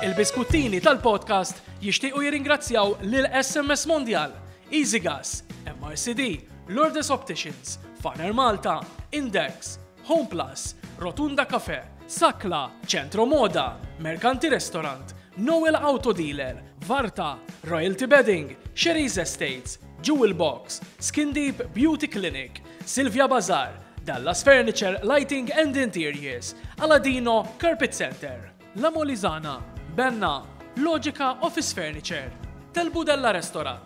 Il-biskuttini tal-podcast jixtiequ jirringrazzjaw lil SMS Mondial, Easy Gas, MRCD, Lourdes Opticians, Farner Malta, Index, Home Plus, Rotunda Cafe, Sakla, Centro Moda, Mercanti Restaurant, Noel Auto Dealer, Varta, Royalty Bedding, Sherry's Estates, Jewel Box, Skin Deep Beauty Clinic, Silvia Bazar, Dallas Furniture, Lighting and Interiors, Aladino, Carpet Center. La Molizana, Benna, Logica Office Furniture, Tel Budella Restorat,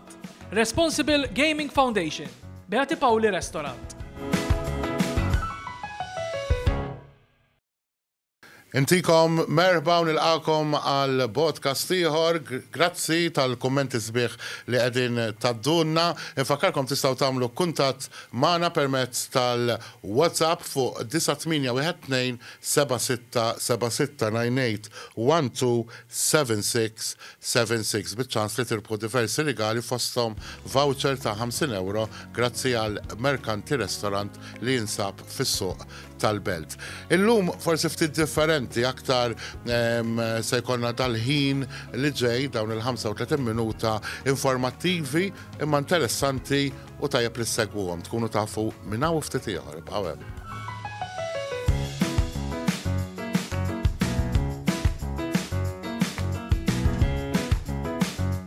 Responsible Gaming Foundation, Beati Pauli Restorat. Intikom merħba u nilqagħkom għal brodkast ieħor. Grazzi tal-kummenti sbieħ li qegħdin tgħaddulna. Infakkarkom tistgħu tagħmlu kuntatt magħna permezz tal-WhatsApp fuq 98127676 98127676 biċ-ċans li tirbħu diversi rigali fosthom voucher ta' 50 ewro grazzi għal Mercanti Restaurant li jinsab fis-Suq tal-belt. Illum forsi ftit differenti aktar se jkollna tal-ħin li ġej dawn il-35 minuta informattivi imma interessanti u tajjeb li segwuhom tkunu tafu minn hawn ftit ieħor ibqgħu hemm.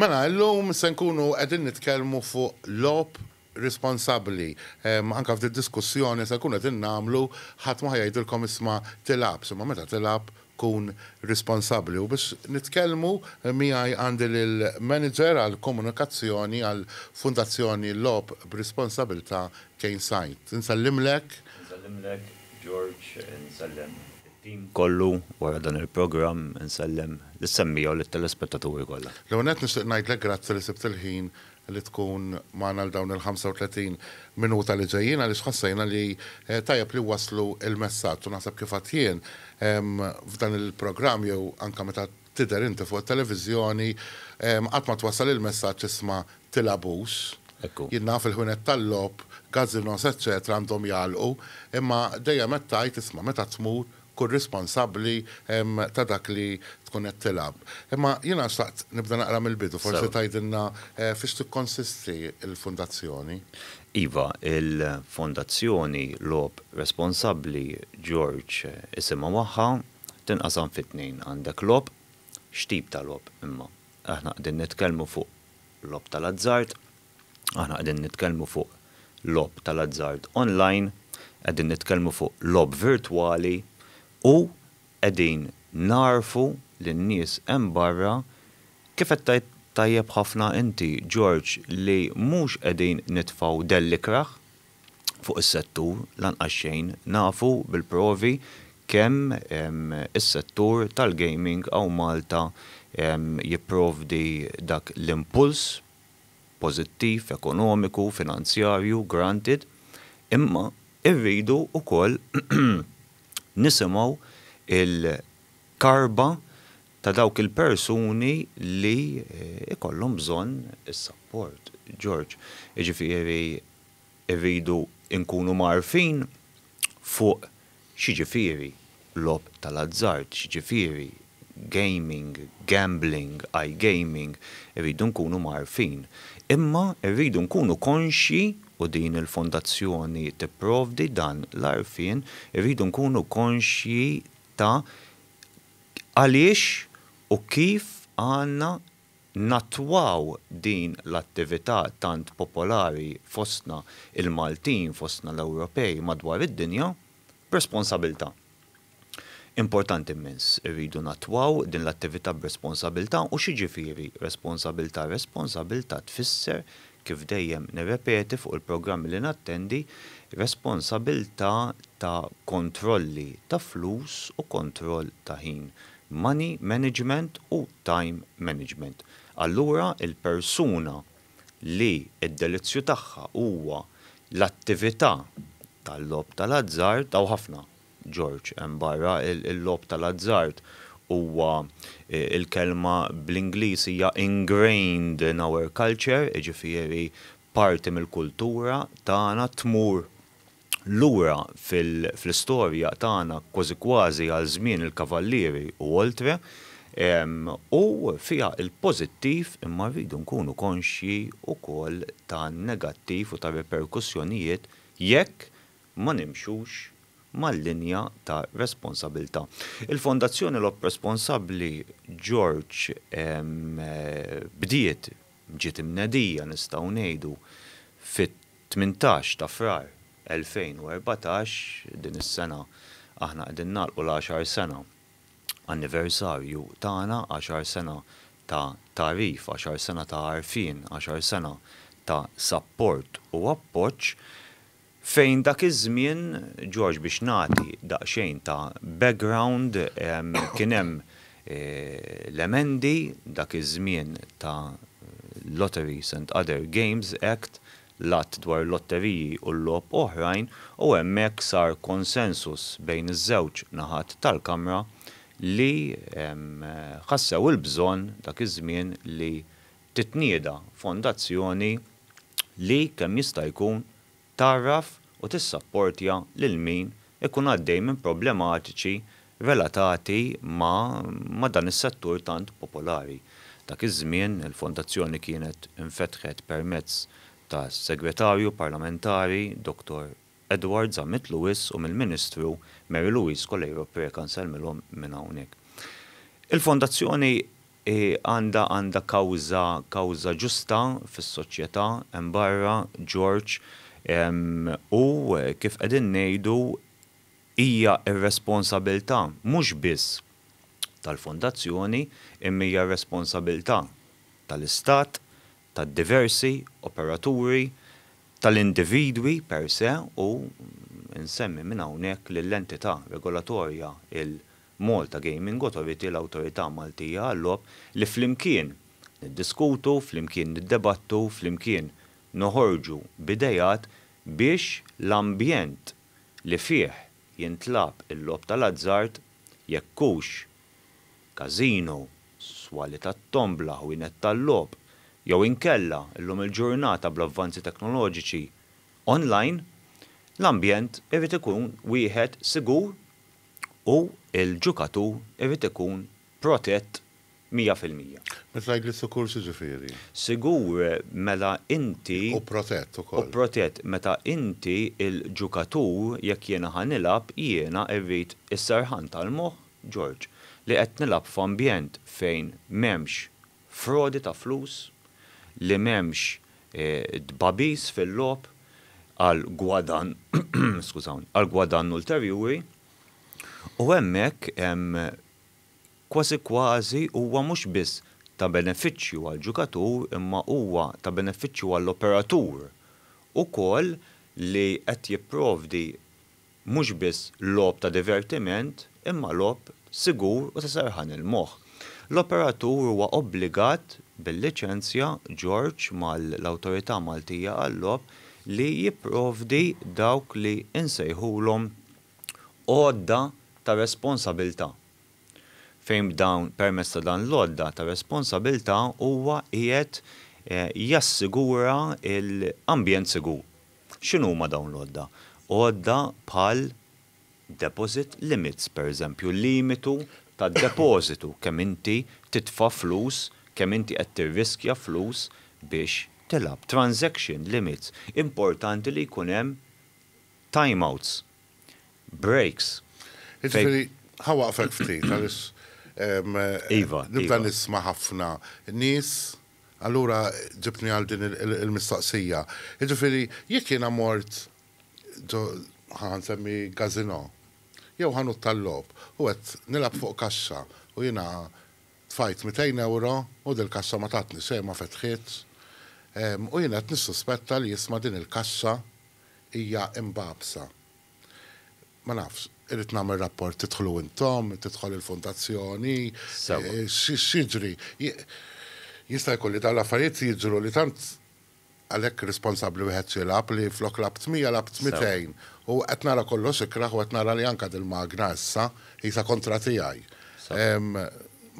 Mela, illum se nkunu qegħdin nitkellmu fuq logħob responsabbli. Anke f'did-diskussjoni se nkunu qegħdin nagħmlu ħadd ma ħa jgħidilkom isma' tilgħabx, imma meta tilgħab tkun responsabbli u biex nitkellmu miegħi għandi lill-Manager għall-Komunikazzjoni għall-Fundazzjoni Logħob b'Responsabilità Kane Said. Insellimlek. Insellimlek George, insellem it-tim kollu wara dan il-programm, insellem lis-semmiegħa u lit-telespettaturi kollha. L-ewwel nett nixtieq ngħidlek grazzi li sibt il-ħin li tkun magħna għal dawn il-35 minuta li ġejjin għaliex ħassejna li tajjeb li nwasslu l-messaġġ u naħseb kif għedt jien f'dan il-programm jew anke meta tidher inti fuq it-televiżjoni qatt ma twassal il-messaġġ isma' tilagħbux. Jien naf il-ħwienet tal-logħob, gazzinos eċċetera għandhom jagħlqu imma dejjem qed tgħid isma' meta tmur Kun responsabbli ta' dak li tkun qed tilgħab. Imma jiena xtaqt nibda naqra mill-bidu, forsi tgħidilna fiex tikkonsisti l-Fundazzjoni? Iva, il-Fondazzjoni Logħob Responsabbli George isimha magħha, tinqasam fi tnejn, għandek logħob, x'tip ta' logħob imma? Aħna qegħdin nitkellmu fuq logħob tal-azzard. Aħna qegħdin nitkellmu fuq logħob tal-azzard online, qegħdin nitkellmu fuq logħob virtwali u qegħdin nagħrfu lin-nies hemm barra, kif qed tgħid tajjeb ħafna inti George li mhux qegħdin nitfgħu dell ikrah fuq is-settur lanqas xejn, nafu bil-provi kemm is-settur tal-gaming hawn Malta jipprovdi dak l-impuls, pożittiv, ekonomiku, finanzjarju, granted, imma rridu wkoll nisimgħu l-karba ta' dawk il-persuni li jkollhom bżonn is-sapport, George. Jiġifieri rridu nkunu mgħarrfin fuq x'jiġifieri logħob tal-azzard, x'jiġifieri gaming, gambling, iGaming, irridu nkunu mgħarrfin. Imma rridu nkunu konxji, u din il-Fondazzjoni tipprovdi dan l-għarfien, irridu nkunu konxji ta' għaliex u kif għandna nattwaw din l-attività tant popolari fostna l-Maltin, fostna l-Ewropej madwar id-dinja, b'responsabilità. Importanti immens, irridu nattwaw din l-attività b'responsabilità u x'jiġifieri responsabilità? Responsabilità tfisser, kif dejjem nirrepeti fuq il-programmi li nattendi, responsabilità ta' kontrolli ta' flus u kontroll ta' ħin, money management u time management. Allura il-persuna li d-delizzju tagħha huwa l-attività tal-logħob tal-azzard, hawn ħafna, George, hemm barra, il-logħob tal-azzard huwa, il-kelma bl-Ingliż hija ingrained in our culture, jiġifieri parti mill-kultura tagħna, tmur Lura fl-istorja tagħna kważi kważi għal żmien il-Kavallieri u oltre, u fiha l-pożittiv imma rridu nkunu konxji wkoll tan-negattiv u tar-riperkussjonijiet jekk ma nimxux mal-linja ta' responsabilità. Il-Fondazzjoni Logħob Responsabbli George bdiet, ġiet imnedija nistgħu ngħidu, Tmintax ta' Frar 2014, din is-sena aħna qegħdin nagħlqu l-għaxar sena anniversarju tagħna, għaxar sena ta' tagħrif, għaxar sena ta' għarfien, għaxar sena ta' sapport u appoġġ, fejn dak iż-żmien, George biex nagħti daqsxejn ta' background, kien hemm l-emendi dak iż-żmien ta' Lotteries and Other Games Act, l-Att dwar il-Lotteriji u l-Logħob Oħrajn u hemmhekk sar konsensus bejn iż-żewġ naħat tal-Kamra li ħassew il-bżonn dak iż-żmien li titnieda fondazzjoni li kemm jista' jkun tgħarraf u tissapportja lil min ikun għaddej minn problematiċi relatati ma' ma' dan is-settur tant popolari. Dak iż-żmien il-Fondazzjoni kienet infetħet permezz tas-Segretarju Parlamentari Dottor Edward Zammit Lewis u mill-Ministru Mary Louise Coleiro Preca nsellmilhom minn hawnhekk. Il-Fondazzjoni Hi għandha għandha kawża kawża ġusta fis-soċjetà hemm barra, George, u kif qegħdin ngħidu hija r-responsabilità mhux biss tal-Fondazzjoni imma hija r-responsabilità tal-Istat, tad-diversi operaturi, tal-individwi per se u nsemmi minn hawnhekk lill-entità regolatorja, il, Malta Gaming Authority, l-Awtorità Maltija għal-Logħob, li flimkien niddiskutu, flimkien niddebattu, flimkien noħorġu b'ideat biex l-ambjent li fih jintlagħab il-logħob tal-azzard, jekk hux każino, swali tat-tombla, ħwienet tal-logħob, jew inkella, illum il-ġurnata bl-avvanzi teknoloġiċi, online, l-ambjent irid ikun wieħed sigur U l-ġukatur irid ikun protett mija fil-mija. Meta tgħid li sikur x'jiġifieri? Sigur mela inti. U protett ukoll. U protett meta inti l-ġukatur jekk jiena ħa nilgħab jiena rrid is-serħan tal-moħħ, George, li qed nilgħab f'ambjent fejn m'hemmx frodi ta' flus, li m'hemmx tbagħbis fil-logħob għal gwadann, skużawni, għal gwadann ulterjuri, u hemmhekk hemm kważi kważi huwa mhux biss ta' benefiċċju għall-ġukatur imma huwa ta' benefiċċju għall-operatur ukoll li qed jipprovdi mhux biss logħob ta' divertiment imma logħob sigur u ta' serħan il-moħħ. L-operatur huwa obbligat bil-liċenzja George mal-Awtorità Maltija għal-Logħob li jipprovdi dawk li nsejħulhom għodda ta' responsabilità fejn b'dawn permezz ta' dan l-għodda ta' responsabilità huwa qiegħed jassigura l-ambjent sigur. X'inhuma dawn l-għodda? Għodda bħal deposit limits, pereżempju l-limitu tad-depożitu, kemm inti titfa' flus, kemm inti qed tirriskja flus biex tilgħab, transaction limits, importanti li jkun hemm time outs, breaks, fejn. Jiġifieri, ħa waqfek ftit għaliex nibda nisma' ħafna nies Allura ġibtni għal din il-mistoqsija. Jiġifieri jekk jiena mort ġo, ħa nsemmi gazino, jew ħanut tal-logħob u qed nilgħab fuq kaxxa u jiena tfajt mitejn ewro u dil-kaxxa ma tatni xejn ma fetħitx, u jiena qed nissuspetta li isma' din il-kaxxa hija imbagħbsa. Ma nafx, irrid nagħmel rapport tidħlu intom, tidħol il-fondazzjoni, x'jiġri. Jista' jkun li dawn l-affarijiet jiġru li tant għalhekk responsabbli wieħed xilab li flok lab tmija lab tmitejn. U qed nara kollox ikraħ u qed nara li anke dil-magna issa jisa kontra tiegħi.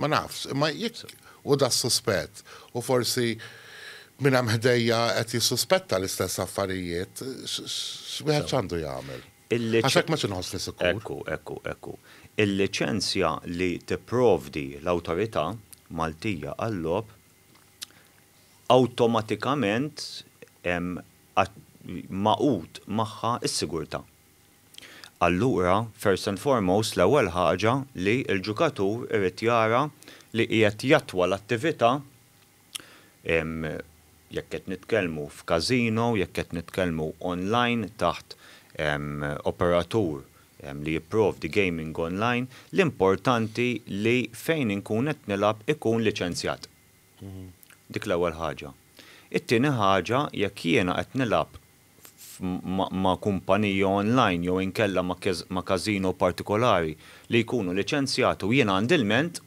Ma nafx, imma jekk Hu da s-suspett, u forsi min hemm ħdejja qed jissuspetta l-istess affarijiet. X'wieħed x'għandu jagħmel? Għax hekk m'għadx inħossni sikur. Ekku, ekku, ekku. Il-liċenzja li tipprovdi l-Awtorità Maltija għal-Logħob awtomatikament hemm magħqud magħha s-sigurtà. Allura, first and foremost, l-ewwel ħaġa li l-ġukatur irid jara li qiegħed jattwa l-attività, jekk qed nitkellmu f'casino, jekk qed nitkellmu online taħt operatur li jipprovdi gaming online, l-importanti li fejn inkun qed nilgħab ikun liċenzjat. Dik l-ewwel ħaġa. It-tieni ħaġa, jekk jiena qed nilgħab ma' kumpanija online jew inkella ma' każino partikolari li jkunu liċenzjati u jien għandi lment,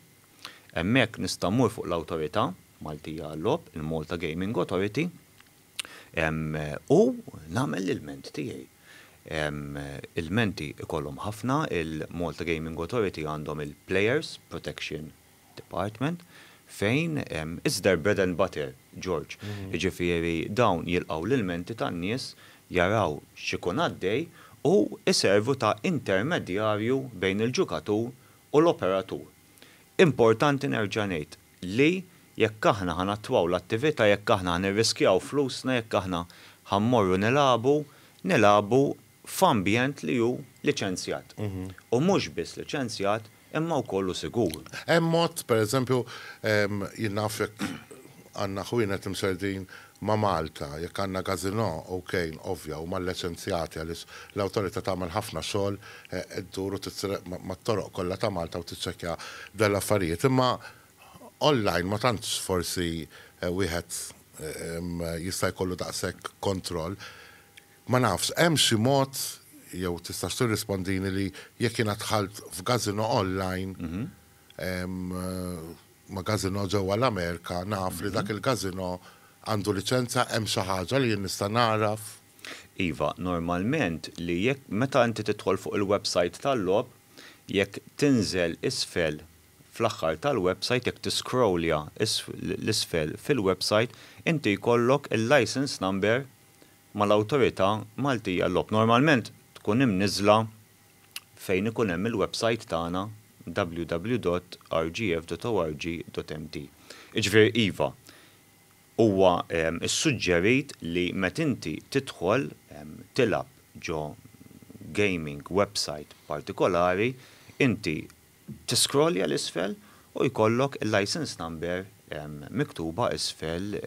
hemmhekk nista' mmur fuq l-awtorità Maltija għal-logħob, il-Malta Gaming Authority, u nagħmel l-ilment tiegħi. Ilmenti jkollhom ħafna, il-Malta Gaming Authority għandhom il-Players Protection Department, fejn it's their bread and butter, George. Jiġifieri dawn jilqgħu l-ilmenti tan-nies, jaraw x'ikun għaddej u jservu ta' intermedjarju bejn il-ġukatur u l-operatur. Importanti nerġa' ngħid li jekk aħna ħa nattwaw l-attività, jekk aħna ħa nirriskjaw flusna, jekk aħna ħa mmorru nilagħbu, nilagħbu f'ambjent li hu liċenzjat, u mhux biss liċenzjat imma wkoll hu sigur. Hemm mod, pereżempju, jien naf jekk għandna ħwienet imserdin ma' Malta, jekk għandna gazino, ok, ovvja, huma lliċenzjati għaliex l-awtorità tagħmel ħafna xogħol, ddur u tisreq mat-toroq kollha ta' Malta u tiċċekkja dan l-affarijiet. Imma online ma tantx forsi wieħed jista' jkollu daqshekk kontroll. Ma nafx, hemm xi mod, jew tistax tirrispondini li jekk jiena dħalt f'gazino online, ma' gazino ġewwa l-Amerika, naf li dak il-gazino għandu liċenza, hemm xi ħaġa li jien nista' nagħraf? Iva, normalment li jekk, meta inti tidħol fuq il-website tal-logħob, jekk tinżel isfel fl-aħħar tal-website, jekk tiscrollja 'l isfel fil-website, inti jkollok il-licence number mal-Awtorità Maltija għal-Logħob. Normalment tkun imniżżla fejn ikun hemm il-websajt tagħna www.rgf.org.mt. Jiġifieri iva, huwa ssuġġerit li meta inti tidħol tilgħab ġo gaming websajt partikolari, inti Tiskrollja 'l isfel u jkollok il-licence number miktuba isfel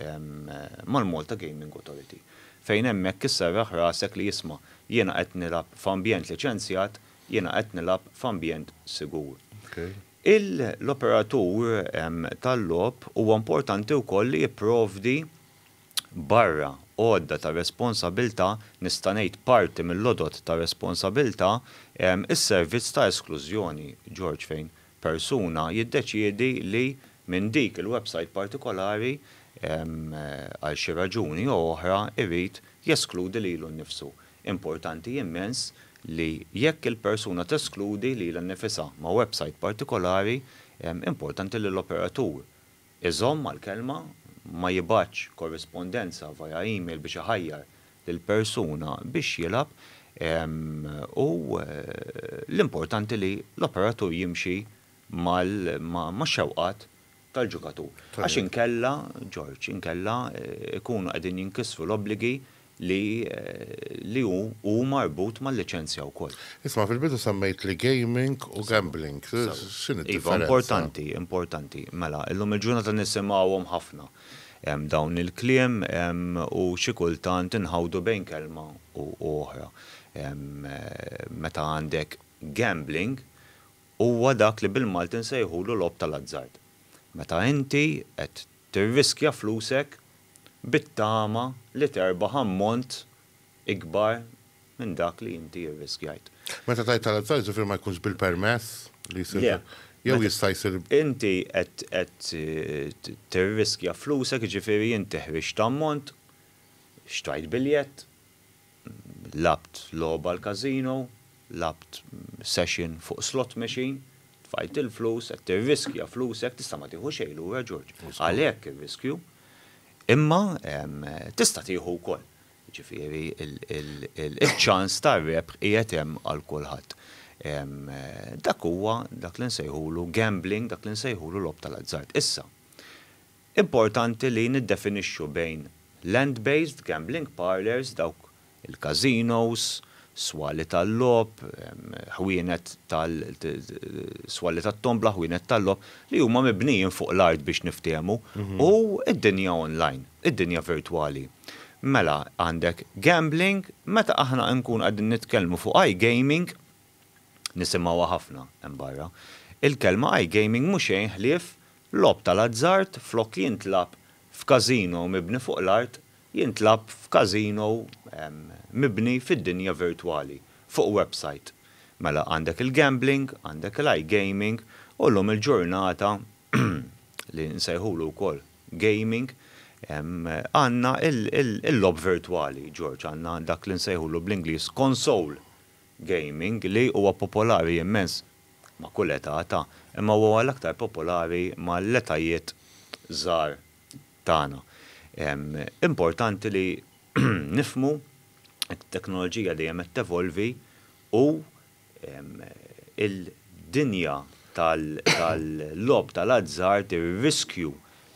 mal-Malta Gaming Authority. Fejn hemmhekk isserraħ rasek li isma' jiena qed nilgħab f'ambjent liċenzjat, jiena qed nilgħab f'ambjent sigur. L-operatur tal-logħob huwa importanti wkoll li jipprovdi barra għodda ta' responsabilità, nista' ngħid parti mill-għodod ta' responsabilità, is-servizz ta' esklużjoni, George, fejn persuna jiddeċiedi li minn dik il-websajt partikolari, għal xi raġuni jew oħra, irid jeskludi lilu nnifsu. Importanti immens li jekk il-persuna teskludi lilha nnifisha ma' websajt partikolari, importanti li l-operatur, Iżomm mal-kelma, ma jibgħatx korrispondenza via email biex iħajjar lil persuna biex jilgħab u l-importanti li l-operatur jimxi max-xewqat tal-ġukatur. Għax inkella, George, inkella jkunu qegħdin jinkisru l-obbligi li li hu hu marbut mal-liċenzja wkoll. Isma' fil-bidu semmejtli gaming u gambling. X'inhi d-differenza? Iva, importanti, importanti. Mela, illum il-ġurnata nisimgħuhom ħafna dawn il-kliem u xi kultant inħawdu bejn kelma u oħra. Meta għandek gambling huwa dak li bil-Malti nsejħulu logħob tal-azzard. Meta inti qed Tirriskja flusek bit-tama li terbaħ ammont ikbar minn dak li inti rriskjajt. Meta tgħid tal-azzards jiġifieri ma jkunx bil-permess li jsir Le. jew jista' jsir. Inti qed qed tirriskja flusek jiġifieri inti ħriġt ammont, xtrajt biljett, Lgħabt logħba l-casino, lgħabt session fuq slot machine, tfajt il-flus, qed tirriskja flusek, tista' ma tieħu xejn lura Ġorġ, għalhekk ir-riskju, imma tista' tieħu wkoll. Jiġifieri iċ-ċans tar-rebħ qiegħed hemm għal kulħadd. Dak huwa dak li nsejħulu gambling, dak li nsejħulu logħob tal-azzard. Issa, Importanti li niddefinixxu bejn land-based gambling parlours, dawk il-każinos, swali tal-logħob, ħwienet tal, swali tat-tombla, ħwienet tal-logħob, li huma mibnijin fuq l-art biex niftehmu, u d-dinja online, id-dinja virtwali. Mela, għandek gambling, meta aħna nkunu qegħdin nitkellmu fuq iGaming, Nisimgħuha ħafna hemm barra. Il-kelma iGaming mhu xejn ħlief logħob tal-azzard flok li jintlagħab f'casino mibni fuq l-art, jintlagħab f'casino mibni fid-dinja virtwali, fuq website. Mela għandek il-gambling, għandek l-iGaming u llum il-ġurnata li nsejħulu wkoll gaming għandna il-logħob virtwali, George, għandna dak li nsejħulu bl-Ingliż console, gaming li huwa popolari immens ma' kull età ta' imma huwa l-aktar popolari mal-etajiet żgħar tagħna. Importanti li nifhmu li t-teknoloġija dejjem qed tevolvi u l-dinja tal-logħob tal-azzard, ir-riskju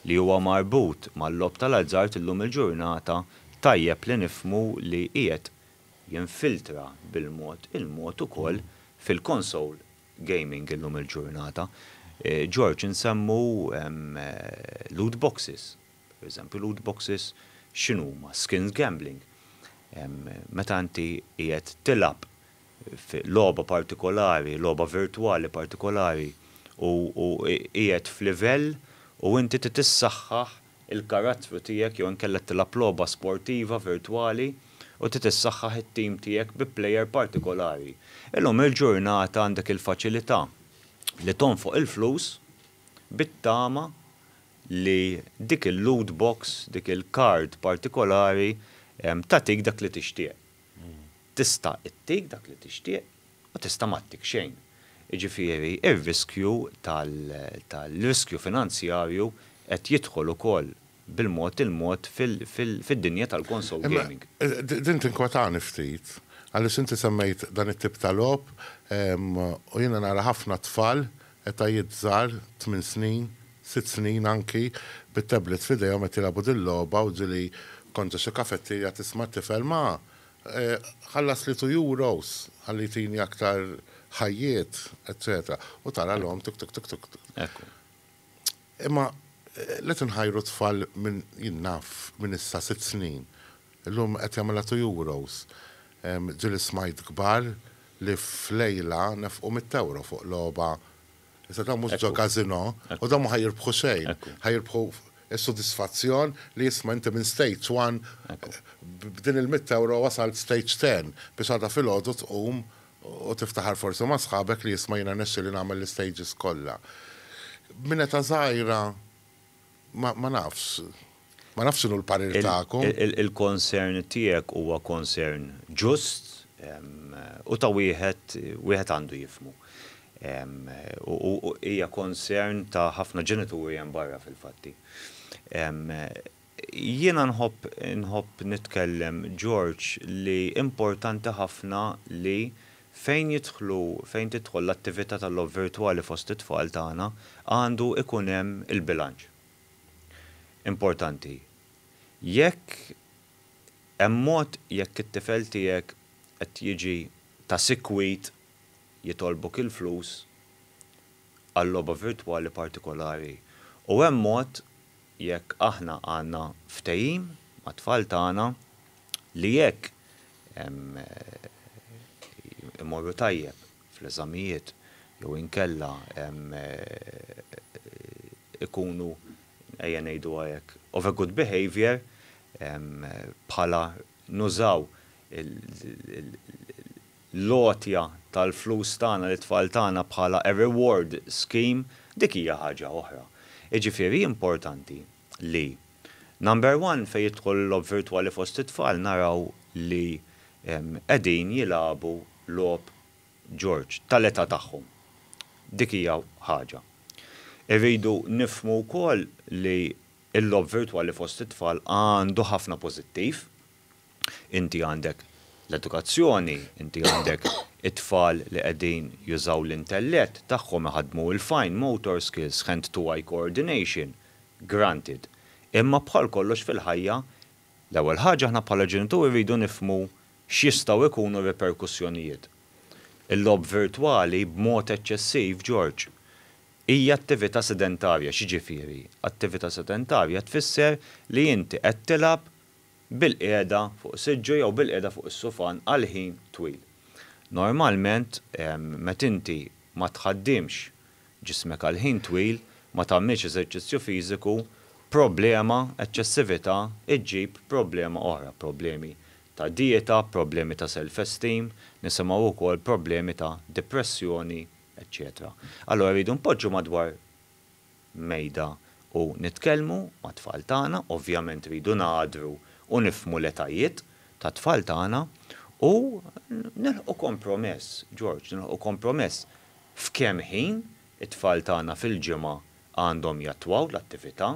li huwa marbut mal-logħob tal-azzard illum il-ġurnata tajjeb li nifhmu li qiegħed jinfiltra bil-mod il-mod ukoll fil-console gaming illum il-ġurnata. George, insemmu loot boxes, per eżempju loot boxes x'inhuma? Skins gambling. Meta inti qiegħed tilgħab f'logħba partikolari, logħba virtwali partikolari u qiegħed f'livell u inti trid issaħħaħ il-karattru tiegħek jew inkella tilgħab logħba sportiva virtwali u trid issaħħaħ it-tim tiegħek bi plejer partikolari. Illum il-ġurnata għandek il-faċilità li tonfoq il-flus bit-tama li dik il-loot box, dik il-card partikolari tagħtik dak li tixtieq. Tista' ttik dak li tixtieq u tista' m'għattik xejn. Jiġifieri r-riskju tal-riskju finanzjarju qed jidħol ukoll bil-mod il-mod fid-dinja tal-console gaming. Imma din tinkwetani ftit għaliex inti semmejt dan it-tip ta' logħob u jiena nara ħafna tfal etajiet żgħar, tmien snin, sitt snin anki, bit-tablets f'idejhom qed jilagħbu dil-logħba u ġieli kont ġo xi kafetierja tisma' tifel ma, Ħallasli two euros ħalli jtini aktar ħajjiet, eċċetera U tara l-omm tuk tuk tuk tuk tuk. Ekku. Imma let inħajru t-tfal minn, jien naf, minn issa sitt snin. Illum qed jagħmilha two euros. Ġieli smajt kbar li f'lejla nefqu mitt ewro fuq logħba Issa ta' mhux ġo kazino, u da mhux jirbħu xejn, ħajirbħu s-sodisfazzjon li jisma' inti minn stage one b'din il-mitt ewro wasalt stage ten biex għada filgħodu tqum u tiftaħar forsi ma' sħabek li jisma' jiena rnexxieli nagħmel l-istages kollha. Minn età żgħira Ma ma nafx. Ma nafx x'inhu l-parir tagħkom. Il-concern tiegħek huwa concern ġust u ta' wieħed wieħed għandu jifhmu. U hija concern ta' ħafna ġenituri hemm barra fil-fatti. Jiena nħobb nħobb nitkellem George li importanti ħafna li Fejn jidħlu, fejn tidħol l-attività tal-logħob virtwali fost it-tfal tagħna, għandu ikun hemm il-bilanċ. Importanti. Jekk hemm mod, jekk it-tifel tiegħek qed jiġi ta' sikwit jitolbok il-flus għal logħba virtwali partikolari u hemm mod Jekk aħna għandna ftehim mat-tfal tagħna li jekk imorru tajjeb fl-eżamijiet jew inkella ikunu, ejja ngħiduha hekk, of a good behaviour bħala nużaw l-għotja tal-flus tagħna lit-tfal tagħna bħala a reward scheme, dik hija ħaġa oħra. Jiġifieri importanti li, number one, fejn jidħol il-logħob virtwali fost it-tfal naraw li qegħdin jilagħbu logħob Ġorġ tal-età tagħhom. Dik hija ħaġa. Irridu nifhmu wkoll li l-logħob virtwali fost it-tfal għandu ħafna pożittiv. Inti għandek l-edukazzjoni, inti għandek it-tfal li qegħdin jużaw l-intellett tagħhom iħaddmu il-fine motor skills, hand-to-eye coordination, granted. Imma bħal kollox fil-ħajja, l-ewwel ħaġa aħna bħala ġenituri rridu nifhmu x'jistgħu jkunu r-riperkussjonijiet. Il-logħob virtwali b'mod eċċessiv, George, hija attività sedentarja. X'jiġifieri attività sedentarja? Tfisser li inti qed tilgħab bil-qiegħda fuq siġġu jew bil-qiegħda fuq is-sufan għal ħin twil. Normalment meta inti ma tħaddimx ġismek għal ħin twil, ma tagħmilx eżerċizzju fiżiku, problema, eċċessività, iġġib problema oħra, problemi ta' dieta, problemi ta' self-esteem, nisimgħu wkoll problemi ta' depressjoni, eċċetera. Allura rridu npoġġu madwar mejda u nitkellmu mat-tfal tagħna, ovvjament rridu ngħadru u nifhmu l-etajiet tat-tfal tagħna u nilħqu kompromess, George, nilħqu kompromess f'kemm ħin it-tfal tagħna fil-ġimgħa għandhom jattwaw l-attività.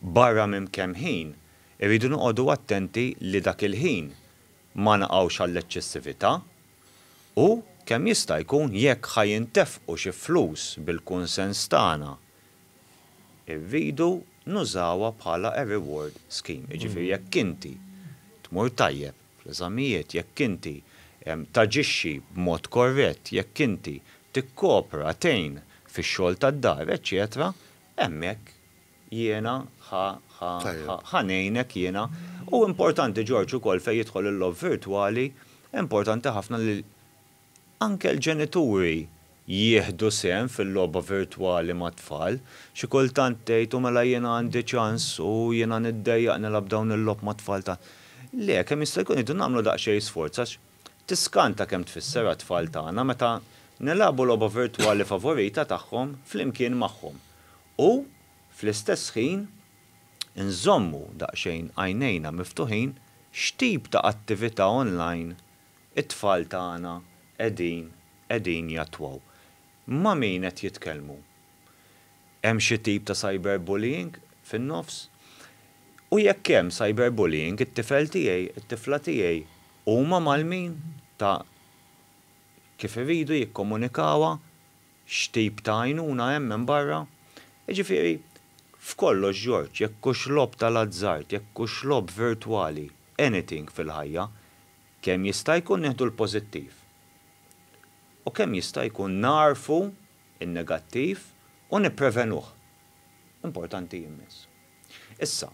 Barra minn kemm ħin, irridu noqogħdu attenti li dak il-ħin ma naqgħux għall-eċċessività. U, kemm jista' jkun, jekk ħa jintefqu xi flus bil-kunsens tagħna, irridu nużawha bħala a reward scheme. Jiġifieri jekk inti tmur tajjeb fl-eżamijiet, jekk inti taġixxi b'mod korrett, jekk inti tikkopra, tgħin fix-xogħol tad-dar, eċċetera, hemmhekk Jiena, ħa, ħa, ħa, ħa ngħinek jiena. U importanti Ġorġ ukoll fejn jidħol il-logħob virtwali, importanti ħafna li anke l-ġenituri jieħdu sehem fil-logħba virtwali mat-tfal. Xi kultant tgħid u mela jiena għandi ċans u jiena niddejjaq nilgħab dawn il-logħob mat-tfal ta' Le, kemm jista' jkun irridu nagħmlu daqsxejn sforz għax tiskanta kemm tfisser għat-tfal tagħna meta nilagħbu logħba virtwali favorita tagħhom flimkien magħhom. u, fl-istess ħin, inżommu daqsxejn għajnejna miftuħin x'tip ta' attività online it-tfal tagħna qegħdin qegħdin jattwaw. Ma' min qed jitkellmu? Hemm xi tip ta' cyberbullying fin-nofs? U jekk hemm cyberbullying, it-tifel tiegħi, it-tifla tiegħi huma mal-min ta' kif iridu jikkomunikawha? X'tip ta' għajnuna hemm hemm barra? Jiġifieri, f'kollox George, jekk hux logħob tal-azzard, jekk hux logħob virtwali, anything fil-ħajja, kemm jista' jkun nieħdu l-pożittiv u kemm jista' jkun nagħrfu n-negattiv u nipprevenuh. Importanti immens. Issa,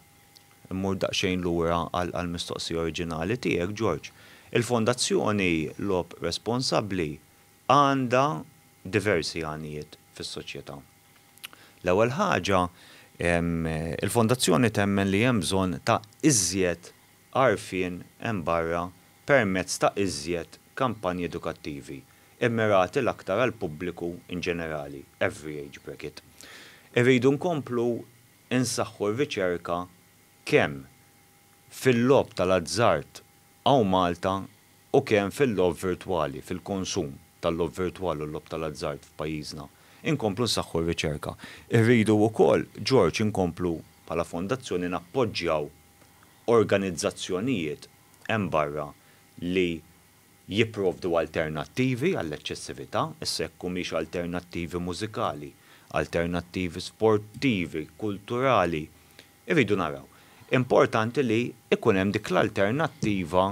immur daqsxejn lura għall-mistoqsija oriġinali tiegħek, George. Il-Fondazzjoni Logħob Responsabbli għandha diversi għanijiet fis-soċjetà. L-ewwel ħaġa, il-Fondazzjoni temmen li hemm bżonn ta' iżjed għarfien hemm barra permezz ta' iżjed kampanji edukattivi, immirati l-aktar għall-pubbliku inġenerali, every age bracket. Irridu nkomplu nsaħħu r-riċerka kemm fil-logħob tal-azzard hawn Malta u kemm fil-logħob virtwali, fil-konsum tal-logħob virtwali u l-logħob tal-azzard f'pajjiżna, inkomplu nsaħħu r-riċerka. Irridu wkoll, George, inkomplu bħala fondazzjoni nappoġġjaw organizzazzjonijiet hemm barra li jipprovdu alternattivi għall-eċċessività, issa jekk humiex alternattivi mużikali, alternattivi sportivi, kulturali, irridu naraw. Importanti li jkun hemm dik l-alternattiva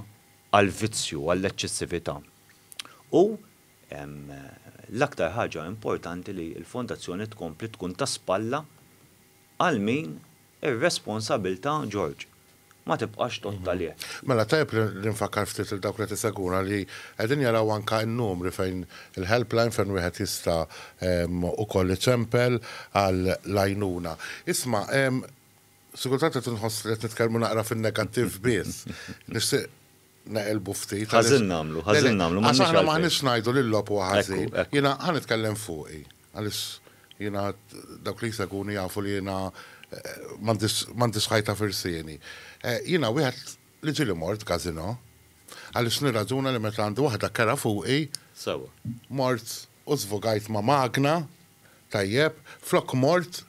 għall-vizzju, għall-eċċessività. U l-aktar ħaġa importanti li l-Fondazzjoni tkompli tkun ta' spalla għal min ir-responsabilità, George, ma tibqax tgħodd għalih. Mela tajjeb li nfakkar ftit lil dawk li qed isegwuna li qegħdin jaraw anke n-numri fejn il-helpline fejn wieħed jista' ukoll iċempel għall-għajnuna. Isma', Sikultant qed inħoss li qed nitkellmu naqra fin-negattiv biss. Nixtieq naqilbu ftit. Ħażin nagħmlu, ħażin nagħmlu. Għax aħna ma ħanix ngħidu li l-lob huwa ħażin. Jiena ħa nitkellem fuqi. Għaliex jiena dawk li jseguni jafu li jiena eh, m'għandix ħajta firsieni. Eh, jiena wieħed li ġieli mort każino għaliex nirraġuna li meta għandi waħda kera fuqi. Sawa. Mort U żvogajt ma' magna, tajjeb, flok mort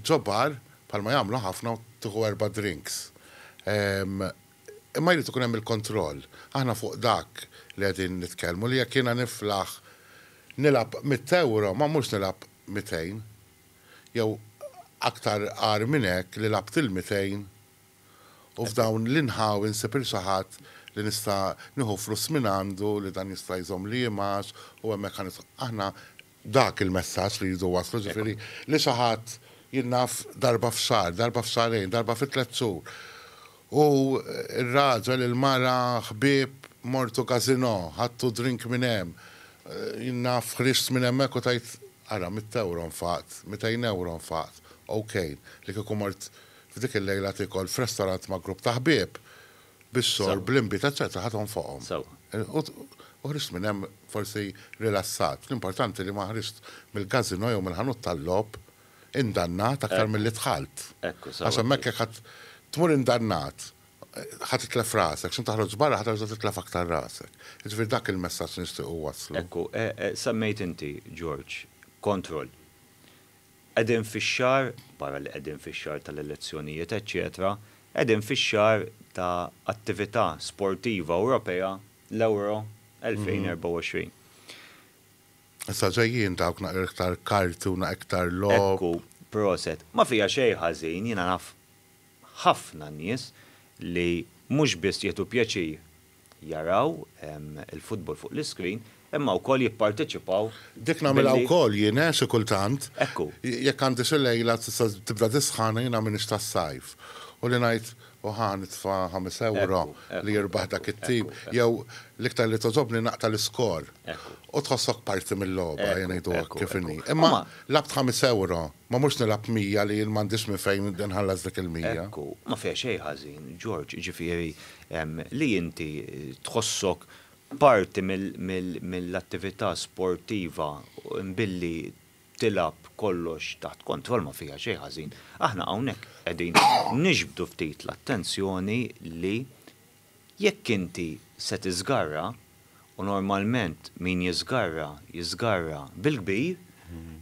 ġo bar, bħalma jagħmlu ħafna u tieħu erba' drinks. Imma jrid ikun hemm il-kontroll. Aħna fuq dak li qegħdin nitkellmu, li jekk jiena niflaħ nilgħab mitt ewro, ma mhux nilgħab mitejn. Jew aktar agħar minn hekk li lgħabt il-mitejn. U f'dawn l-inħawi nsib il xi ħadd li nista' nieħu flus mingħandu li dan jista' jżommli jimgħax u hemmhekk ħa nidħol. Aħna dak il-messaġġ li rridu nwasslu, jiġifieri li xi ħadd jien naf darba f'xahar, darba f'xahrejn, darba fi tliet xhur u r-raġel, il-mara, ħbieb, mortu gazino, ħadtu drink minn hemm, jien naf ħriġt minn hemmhekk u tajt ara mitt ewro nfaqt, mitejn ewro nfaqt, ok, li kieku mort F'dik il-lejla tiekol f'restorant ma' grupp ta' ħbieb bis-sor bl-invitazzjoni ta' ħadd onfoqhom. U ħriġt minn hemm forsi rilassat. L-importanti li ma ħriġt mill-każinò jew mill-ħanut tal-logħob indannat aktar milli dħalt. Għax hemmhekk jekk ħadd tmur indannat, ħa titlef rasek, x'imkien toħroġ barra ħa terġa' titlef aktar rasek. Jiġifieri dak il-messaġġ li nixtiequ nwasslu. Ekku, semmejt inti, George, kontroll. Qegħdin fix-xahar, barra li qegħdin fix-xahar tal-elezzjonijiet eċċetera, qegħdin fix-xahar ta' attività sportiva Ewropea, l-Euro 2024. Issa ġejjin dawk naqra iktar karti u naqra iktar logħob. Ekku, proset. Ma fiha xejn ħażin, jiena naf ħafna nies li mhux biss jieħdu pjaċir jaraw il-futbol fuq l-iskrin imma wkoll jipparteċipaw. Dik nagħmilha wkoll jien eh xi kultant. Ekku. Jekk għandi xi lejla tibda tisħan u jiena m'iniex tas-sajf u li ngħid u ħa nitfa' ħames ewro li jirbaħ dak it-tim jew l-iktar li togħġobni naqta' l-iskor u tħossok parti mil-logħba ejja ngħidu hekk kif inhi. Imma lgħabt ħames ewro ma mhux nilgħab mija li jien m'għandix minn fejn inħallas dik il-mija. Ekku. Ma fiha xejn ħażin Ġorġ, jiġifieri li inti tħossok parti mill-attività sportiva billi tilgħab kollox taħt kontroll ma fiha xejn ħażin. Aħna hawnhekk qegħdin niġbdu ftit l-attenzjoni li jekk inti se tiżgarra, u normalment min jiżgarra, jiżgarra bil-kbir,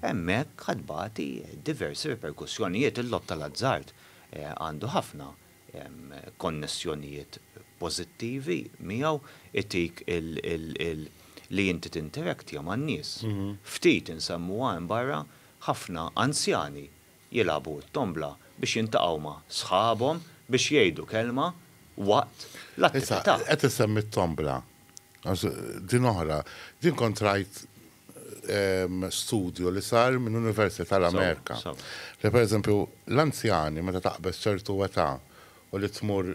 hemmhekk ħa tbati diversi riperkussjonijiet. Il-logħob tal-azzard għandu ħafna konnessjonijiet pożittivi miegħu, itik li inti tinteraktja man-nies. Ftit insemmuha hemm barra, ħafna anzjani jilagħbu t-tombla biex jiltaqgħu ma' sħabhom biex jgħidu kelma waqt l-attività. Qed issemmi t-tombla, għax din oħra. Din kont rajt studju li sar minn University tal-Amerika li pereżempju l-anzjani meta taqbeż ċertu età u li tmur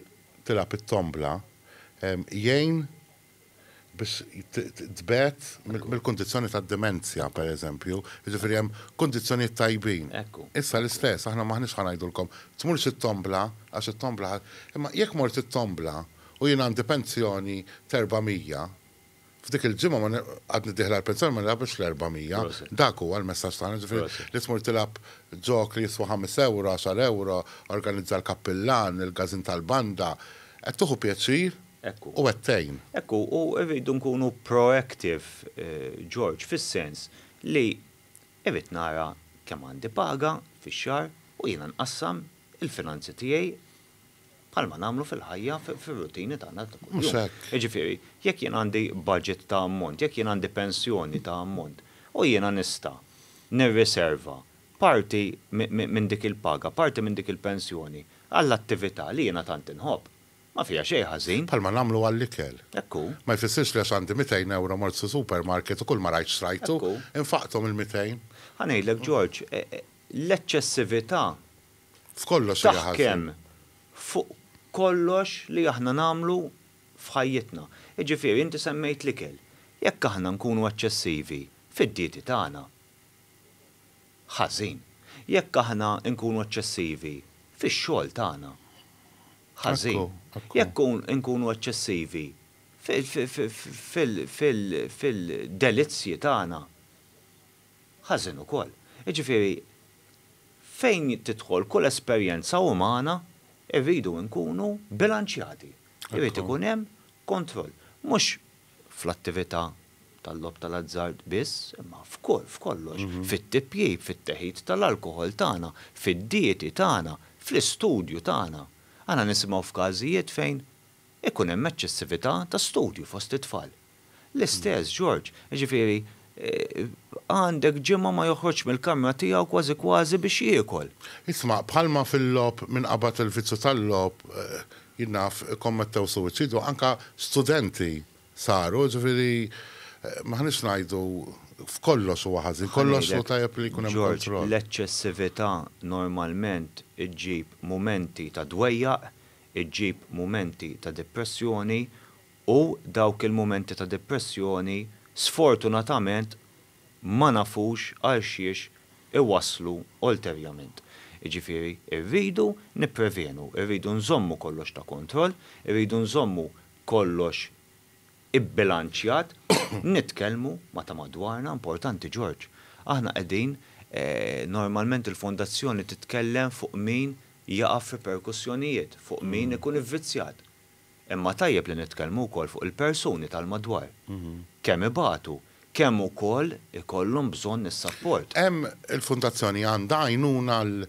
tilgħab it-tombla jgħin biex tbegħed mill-kundizzjoni tad-dimenzja pereżempju, jiġifieri hemm kundizzjonijiet tajbin. Issa l-istess, aħna m'aħniex ħa ngħidulkom tmurx it-tombla għax it-tombla ħa imma jekk mort it-tombla u jien għandi pensjoni t'erbgħa mija, F'dik il-ġimgħa ma għadni d-dieħla għall-pensjoni ma nilgħabx l-400. Dak huwa l-messaġġ tagħna, ġifieri li tmur tilgħab ġok li jiswa ħames ewro, għaxar ewro, organizza l-kappillan, il-każin tal-banda, qed tieħu pjaċir u qed tgħin. Ekku, u rridu nkunu proactive, George, fis-sens li irrid nara kemm għandi paga fix-xahar u jiena nqassam il-finanzi tiegħi bħalma nagħmlu fil-ħajja fir-rutini tagħna ta' kuljum. Mhux hekk. Jiġifieri, jekk jien għandi budget ta' ammont, jekk jien għandi pensjoni ta' ammont, u jiena nista' nirriserva parti minn dik il-paga, parti minn dik il-pensjoni għall-attività li jiena tant inħobb, ma fiha xejn ħażin. Bħalma nagħmlu għall-ikel. Hekk hu. Ma jfissirx li għax għandi mitejn ewro mort fi supermarket u kull ma rajt xtrajtu. Hekk hu. Infaqthom il-mitejn. Ħa ngħidlek George, l-eċċessività taħkem fuq kollox li aħna nagħmlu f'ħajjitna. Jiġifieri inti semmejt l-ikel. Jekk aħna nkunu eċċessivi fid-dieti tagħna, ħażin. Jekk aħna nkunu eċċessivi fix-xogħol tagħna, ħażin. Jekk inkunu eċċessivi fil-delizzji tagħna, ħażin ukoll. Jiġifieri Fejn tidħol kull esperjenza umana, irridu nkunu bilanċjati. Irid ikun hemm kontroll. Mhux fl-attività tal-logħob tal-azzard biss, imma f'kull, f'kollox. Fit-tipjip, fit-teħid tal-alkoħol tagħna, fid-dieti tagħna, fl-istudju tagħna. Aħna nisimgħu f'każijiet fejn ikun hemm eċċessività ta' studju fost it-tfal. L-istess, George. Jiġifieri, għandek ġimgħa ma joħroġx mill-kamra tiegħu kważi kważi biex jiekol. Isma', bħalma fil-logħob min qabad il-vizzju tal-logħob, jien naf, ikkommettew suwiċidju, anke studenti saru, jiġifieri m'aħniex ngħidu f'kollox huwa ħażin, kollox hu tajjeb li jkun hemm kontroll. Ħa ngħidlek, George, l-eċċessività normalment iġġib mumenti ta' dwejjaq, iġġib mumenti ta' depressjoni U dawk il-mumenti ta' depressjoni sfortunatament ma nafux għal xiex iwasslu ulterjament. Jiġifieri rridu nipprevenu, irridu nżommu kollox ta' kontroll, irridu nżommu kollox ibbilanċjat, nitkellmu ma' ta' madwarna, importanti George. Aħna qegħdin, normalment il-fondazzjoni titkellem fuq min jaqa' f'riperkussjonijiet, fuq min ikun ivvizzjat. Imma tajjeb li nitkellmu wkoll fuq il-persuni tal-madwar. Kemm ibatu, kemm ukoll ikollhom bżonn is-sapport. Hemm il-Fundazzjoni għandha għajnuna għal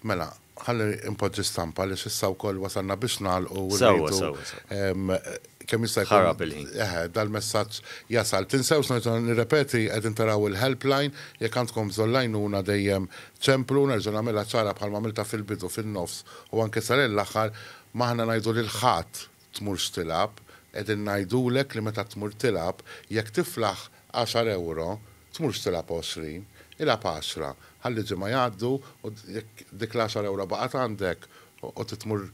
mela, ħalli npoġġi stampa għaliex issa wkoll wasalna biex nagħlqu u rridu kemm jista' jkun. Ħarab il-ħin. Eħe, dal-messaġġ jasal. Tinsewx, nerġa' nirrepeti, qegħdin taraw il-helpline, jekk għandkom bżonn l-għajnuna dejjem ċemplu, nerġa' nagħmilha ċara bħalma għamiltha fil-bidu, fin-nofs u anke sar l-aħħar, M'aħna ngħidu lil ħadd, Tmurx tilgħab, qegħdin ngħidulek li meta tmur tilgħab, jekk tiflaħ għaxar ewro, tmurx tilgħab għoxrin, ilgħab għaxra, ħalli ġimgħa jgħaddu u jekk dik l-għaxar ewro baqgħet għandek u titmur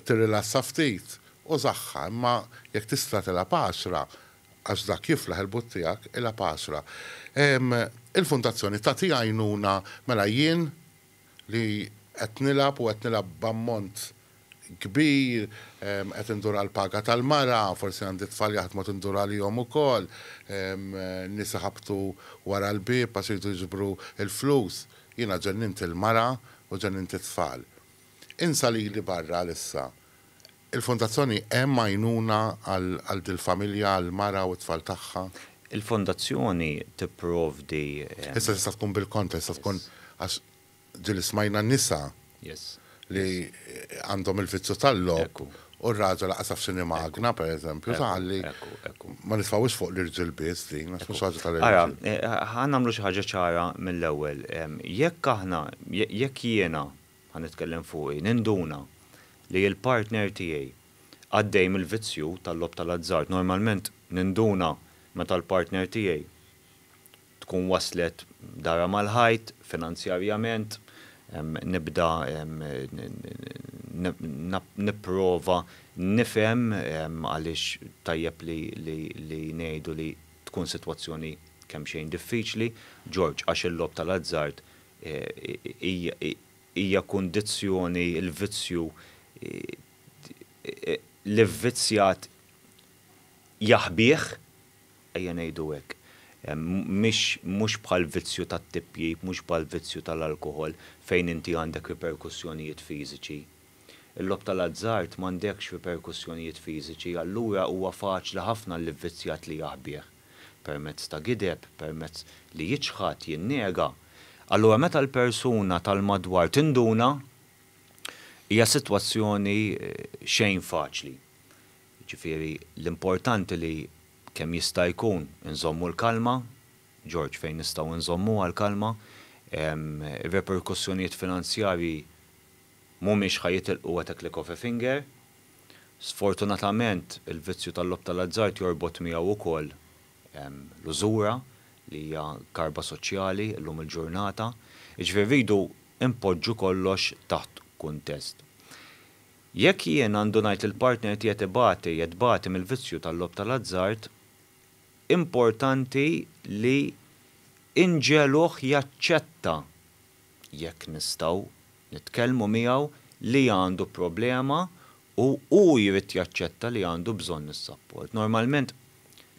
tirrilassa ftit, użaħħa, imma jekk tista' tilgħab għaxra, għax dak jiflaħ il-but tiegħek, ilgħab għaxra. Il-Fundazzjoni tagħti għajnuna, mela jien li qed nilgħab u qed nilgħab b'ammont kbir, qed indur għall-paga tal-mara, forsi għandi tfal jaħdmu qed indur għalihom ukoll, nies iħabbtu wara l-bieb għax iridu jiġbru l-flus. Jiena ġennimt il-mara u ġennimt it-tfal. Insa lili barra għalissa. Il-Fondazzjoni hemm għajnuna għal dil-familja, għall-mara u t-tfal tagħha? Il-Fondazzjoni tipprovdi. Issa tista' tkun bil-kontra, tista' tkun għax ġieli smajna nisa li għandhom il-vizzju tal-logħob u r-raġel lanqas jaf x'inhi magna, pereżempju, sa ħalli ma nitfgħuhiex fuq l-irġiel biss din, għax mhux ħaġa tal-irġiel. Ara, ħa nagħmlu xi ħaġa ċara mill-ewwel. Jekk aħna, jekk jiena ħa nitkellem fuqi, ninduna li l-partner tiegħi għaddej mill-vizzju tal-logħob tal-azzard. Normalment ninduna meta l-partner tiegħi tkun waslet darha mal-ħajt finanzjarjament, nibda nipprova nifhem għaliex tajjeb li ngħidu li tkun sitwazzjoni kemxejn diffiċli, George, għax il-logħob tal-azzard hija kundizzjoni l-vizzju l-ivvizzjat jaħbih, ejja ngħidu hekk, mhux bħall-vizzju tat-tipjip, mhux bħall-vizzju tal-alkoħol fejn inti għandek riperkussjonijiet fiżiċi. Il-logħob tal-azzard m'għandekx riperkussjonijiet fiżiċi allura huwa faċli ħafna għall-ivvizzjat li jaħbih. permezz ta' gideb, permezz li jiċħad, jinnega, allura meta l-persuna tal-madwar tinduna, hija sitwazzjoni xejn faċli. Jiġifieri l-importanti li kemm jista' jkun inżommu l-kalma, George fejn nistgħu nżommuha l-kalma, ir-reperkussjonijiet finanzjarji Mhumiex ħa jitilqu at a click of a finger. Sfortunatament, il-vizzju tal-logħob tal-azzard jorbot miegħu wkoll l-użura li hija karba soċjali llum il-ġurnata. Jiġifieri rridu npoġġu kollox taħt kuntest. Jekk jien għandu ngħid li l-partner tiegħi qed ibati, qed tbati mill-vizzju tal-logħob tal-azzard, importanti li nġegħluh jaċċetta jekk nistgħu nitkellmu miegħu, li għandu problema u hu jrid jaċċetta li għandu bżonn is-sapport. Normalment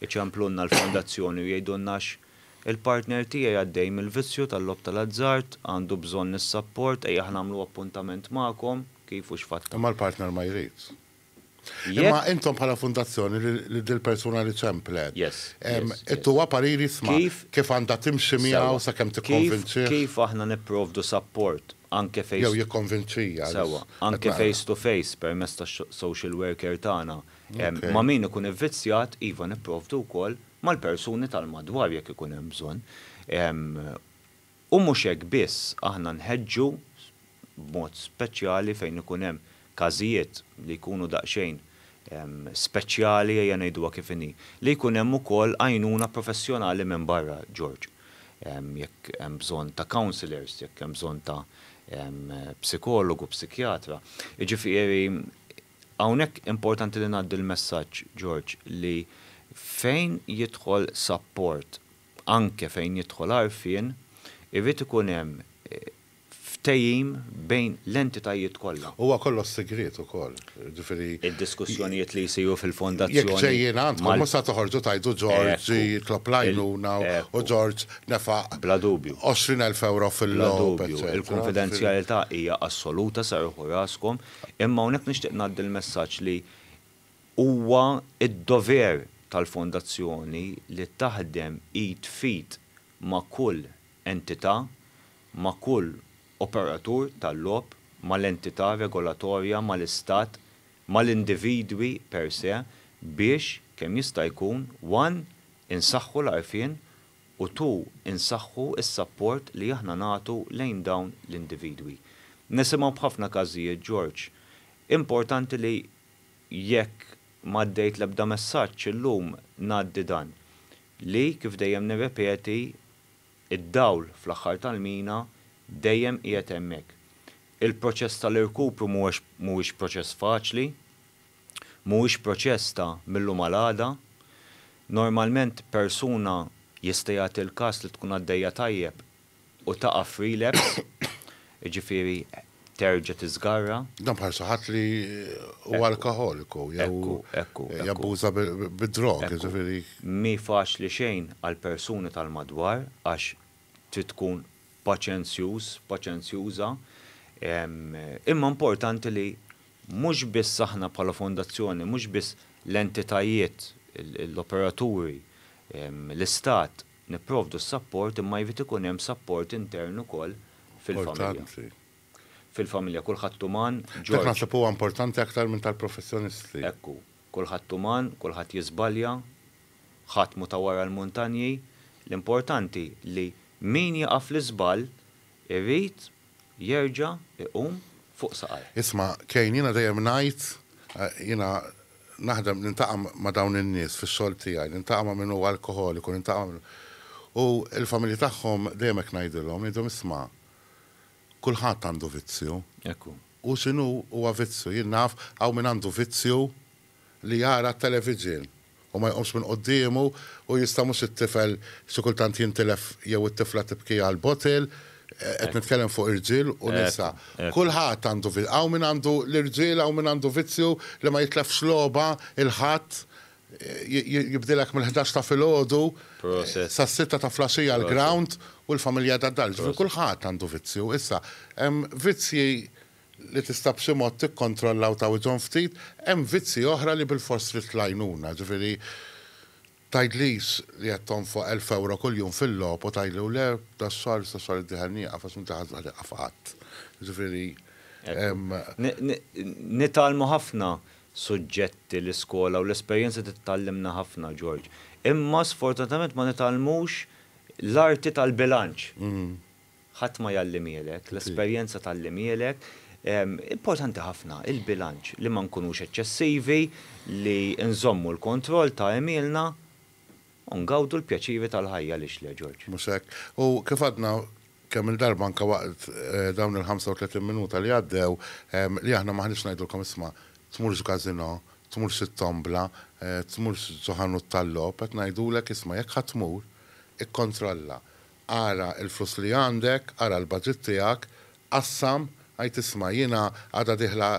iċemplulna l-fondazzjoni u jgħidulna għax il-partner tiegħi għaddej mill-vizzju tal-logħob tal-azzard, għandu bżonn is-sapport, ejja ħa nagħmlu appuntament magħkom, kif u x'fatt ta'. Imma l-partner ma jridx. Imma intom bħala fundazzjoni li dil-persuna li ċemplet, ittuha pariri sma kif għandha timxi miegħu sakemm tikkonvinċih? Kif aħna nipprovdu sapport anke face to face? Jew jikkonvinċija. Sewwa, anke face to face permezz tas-social worker tagħna. Ma' min ikun ivvizzjat, iva nipprovdu wkoll mal-persuni tal-madwar jekk ikun hemm bżonn. U mhux hekk biss, aħna nħeġġu, b'mod speċjali fejn ikun hemm każijiet li jkunu daqsxejn speċjali ejja ngħiduha kif inhi, li jkun hemm ukoll għajnuna professjonali minn barra, George. Jekk hemm bżonn ta' counsellors, jekk hemm bżonn ta' psikologu, psikjatra. Jiġifieri hawnhekk importanti li ngħaddi l-messaġġ, George, li fejn jidħol sapport anke fejn jidħol għarfien, irid ikun hemm ftehim bejn l-entitajiet kollha. Huwa kollox sigriet ukoll, jiġifieri. Id-diskussjonijiet li jsiru fil-fondazzjoni mal-. Jekk ġejjin għandkom mhux se toħorġu tgħidu George jitlob l-għajnuna u George nefaq. Bla dubju. 20,000 ewro fil-logħob. Bla dubju. Il-kunfidenzjalità hija assoluta, serrħu raskom, imma hawnhekk nixtieq ngħaddi l-messaġġ li Huwa d-dover tal-Fondazzjoni li taħdem id f'id ma' kull entità, ma' kull operatur tal-logħob, mal-entità regolatorja, mal-Istat, mal-individwi per se biex, kemm jista' jkun, one insaħħu l-għarfien u two insaħħu s-sapport li aħna nagħtu lejn dawn l-individwi. Nisimgħu b'ħafna każijiet, George, importanti li Jekk m'għaddejt l-ebda messaġġ illum ngħaddi dan, li kif dejjem nirrepeti, id-dawl fl-aħħar tal-mina dejjem qiegħed hemmhekk. Il-proċess tal-irkupru mhuwiex proċess faċli, mhuwiex proċess ta' mil-lum għal għada. Normalment persuna jista' jagħti l-każ li tkun għaddejja tajjeb U taqa' f'relapse, jiġifieri terġa' tiżgarra. Dan bħal xi ħadd li huwa alkoħoliku jew jabbuża bid-drog, jiġifieri. Mhi faċli xejn għall-persuni tal-madwar għax trid tkun paċenzjuż, paċenzjuża, imma importanti li mhux biss aħna bħala fondazzjoni, mhux biss l-entitajiet, l-operaturi, l-istat, Nipprovdu s-sapport imma jrid ikun hemm sapport intern ukoll fil-familja. Fil-familja kulħadd uman, George. Dak naħseb huwa importanti aktar minn tal-professjonisti. Hekk hu. Kulħadd uman, kulħadd jiżbalja, ħadd mhu ta' wara l-muntanji. L-importanti li min jaqa' fl-iżball irid jerġa' jqum fuq saqajh. Isma', Kane, jiena dejjem ngħid, jiena naħdem, nintaqa' ma' dawn in-nies fix-xogħol tiegħi, nintaqa' ma' min hu alkoħoliku, nintaqa' ma' min hu. U l-familji tagħhom dejjem hekk ngħidilhom, ngħidilhom, isma', kulħadd għandu vizzju. Hekk hu. Hu x'inhu, huwa vizzju. Jien naf, hawn min għandu vizzju li jara t-television u ma jqumx minn quddiemu u jista' mhux it-tifel xi kultant jintilef jew it-tifla tibki għal bottle, qed nitkellem fuq irġiel u nisa. Kulħadd għandu hawn min għandu l-irġiel hawn min għandu vizzju li ma jitlefx logħba il-Ħadd jibdilek mill-ħdax ta' filgħodu sas-sitta ta' flaxija l-ground u l-familja għadha d-dar. Ġifieri kulħadd għandu vizzju. Issa hemm vizzji li tista' b'xi mod tikkontrolla u tgħawidhom ftit, hemm vizzji oħra li bilfors trid l-għajnuna. Ġifieri, tgħidlix li qed tonfoq elf ewro kuljum fil-logħob u tgħidli u le, das-xahar, issa x-xahar id-dieħel nieqaf għax m'inti ħadd ma tieqaf qatt. Ġifieri, hemm. Nitgħallmu ħafna suġġetti l-iskola u l-esperjenza trid tgħallimna ħafna, George. Imma sfortunatament ma nitgħallmux l-arti tal-bilanċ. Ħadd ma jgħallimielek, l-esperjenza tgħallimielek. Importanti ħafna il-bilanċ, li ma nkunux eċċessivi, li nżommu l-kontroll ta' għemilna u ngawdu l-pjaċiri tal-ħajja, għaliex le, George? Mhux hekk. U kif għadna kemm-il darba anke waqt dawn il-35 minuta li għaddew, li aħna m'aħniex ngħidulkom isma' tmurx gazino, tmurx it-tombla, tmurx ġo ħanut tal-logħob, qed ngħidulek isma' jekk ħa tmur, ikkontrolla. Ara l-flus li għandek, ara l-budget tiegħek, qassam, għid isma' jiena għadha dieħla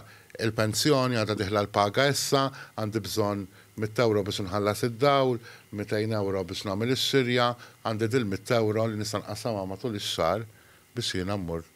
l-pensjoni, għadha dieħla l-paga issa, għandi bżonn mitt ewro biex inħallas id-dawl, mitejn ewro biex nagħmel ix-xirja, għandi dil-mitt ewro li nista' nqassamha matul ix-xahar biex jiena mmur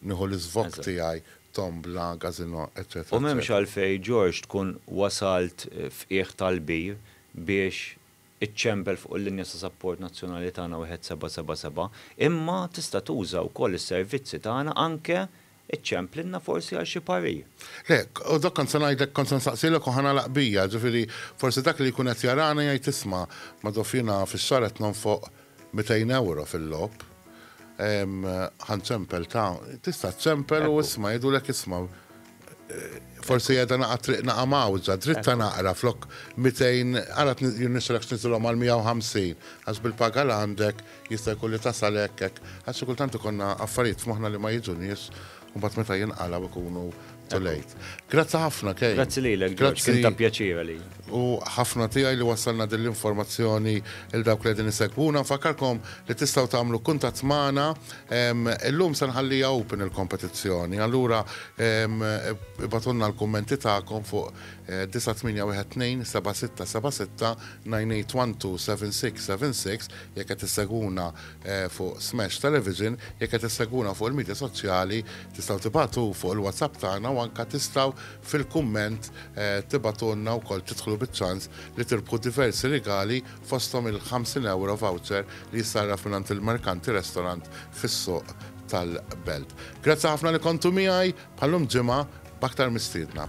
nieħu l-iżvokk tiegħi, tombla, gazino, eċċetera. U m'hemmx għalfejn George tkun wasalt f'qiegħ tal-bir biex iċ-ċempel fuq il-linja ta' sapport nazzjonali tagħna 1777, imma tista' tuża wkoll is-servizzi tagħna anke iċċemplilna forsi għal xi parir. Le, u dak kont se ngħidlek, kont se nsaqsielek u ħa nagħlaq bija, ġifieri forsi dak li jkun qed jarana jgħid isma', Madoff jiena fix-xahar qed nonfoq mitejn ewro fil-logħob, ħa nċempel ta' tista' ċċempel u isma' jgħidulek isma', Forsi jeda naqa triq naqa mawza, dritta naqra flok 200, għara nisrek snitilom għal 150, għaz bil-paga l għandek, jista jkun li tasal ekkek, għaz kultant ikonna affarijiet f'moħna li ma jiġu nis, un bat meta jinqala ikunu tulejt. Grazzi ħafna, kej. Grazzi li l-ek, grazzi ta' pjaċira li. U ħafna tijaj li wasalna din l-informazzjoni il-dawk li għedin isegbuna, fakarkom li tistaw tamlu kuntat maħna Illum se nħalliha open il-kompetizzjoni, allura ibgħatulna l-kummenti tagħkom fuq 98127676981276 jekk qed issegwuna fuq Smash Television, jekk qed issegwuna fuq il-midja soċjali tistgħu tibagħtu fuq il-WhatsApp tagħna u anke tistgħu fil-kumment tibgħatulna wkoll tidħlu biċ-ċans li tirbħu diversi rigali fosthom il-50 ewro voucher li jissarraf mingħand il-Merkanti Restaurant fis-Suq tal-Belt. Grazzi ħafna li kontu miegħi bħal-lum ġimgħa b'aktar mistiedna.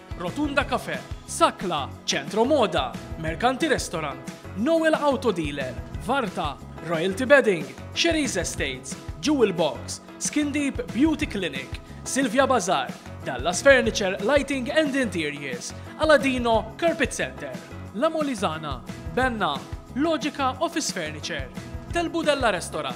Rotunda Cafe, Sakla, Centro Moda, Mercanti Restaurant, Noel Auto Dealer, Varta, Royalty Bedding, Sherry's Estates, Jewel Box, Skin Deep Beauty Clinic, Silvia Bazaar, Dallas Furniture Lighting and Interiors, Aladino Carpet Center, La Molizana, Benna, Logica Office Furniture, Del Budella Restaurant,